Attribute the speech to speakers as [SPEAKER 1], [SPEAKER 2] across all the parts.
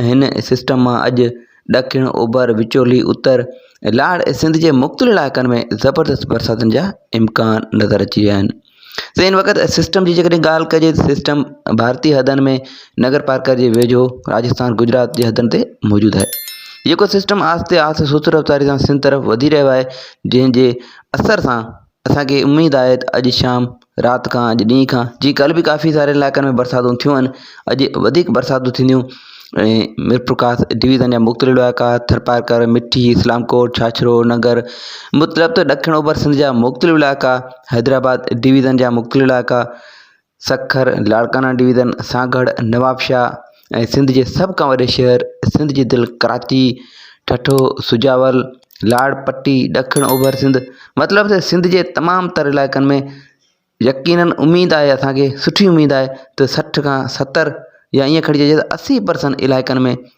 [SPEAKER 1] ۽ هن سسٽم مان اڄ ڏکڻ، اوڀر، وچولي، اتر ۽ لاڙ ۽ سنڌ جي مختلف علائقن ۾ زبردست برساتن جا امڪان نظر اچي رهيا آهن. سائين ان وقت سسٽم جي جيڪڏهن ڳالهه ڪجي ته سسٽم ڀارتي حدن ۾ نگر پارڪر جي ويجهو راجستان گجرات جي حدن تي موجود آهي جيڪو سسٽم آهستي آهستي سست رفتاري سان سنڌ طرف وڌي رهيو آهي جنهن جي اثر سان اسان کي اميد آهي ته اڄ شام رات کان اڄ ڏينهن کان جي ڪلهه به ڪافي ساري علائقن ۾ برساتون ٿيون آهن اڄ وڌيڪ برساتون ٿينديون ۽ ميرپورخاص ڊويزن جا مختلف علائقا ٿرپارڪر مٺي اسلام ڪوٽ ڇاڇرو ننگر مطلب ته ڏکڻ اوڀر سنڌ جا مختلف علائقا حيدرآباد ڊويزن جا مختلف علائقا سکر، لاڙڪانا ڊويزن، سانگهڙ، نوابشاهه ۽ سنڌ جي سڀ کان وڏي شهر سنڌ جي دل ڪراچي، ٺٽو، سجاول، لاڙ پٽي، ڏکڻ اوڀر سنڌ مطلب ته سنڌ جي تمام تر علائقن ۾ يقينن اميد آهي اسان کي سٺي اميد آهي ته سٺ کان ستر يا ائين کڻي چئجي ته اسي پرسنٽ علائقن ۾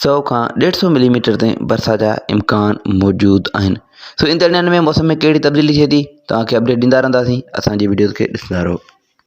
[SPEAKER 1] سئو کان ڏيڍ سئو ملي ميٽر تائين برسات جا امڪان موجود آهن سو ايندڙ ڏينهن ۾ موسم ۾ ڪهڙي تبديلي ٿئي ٿي توهان کي اپڊيٽ ڏيندا رهنداسين اسان جي وڊيوز کي ڏسندا رهو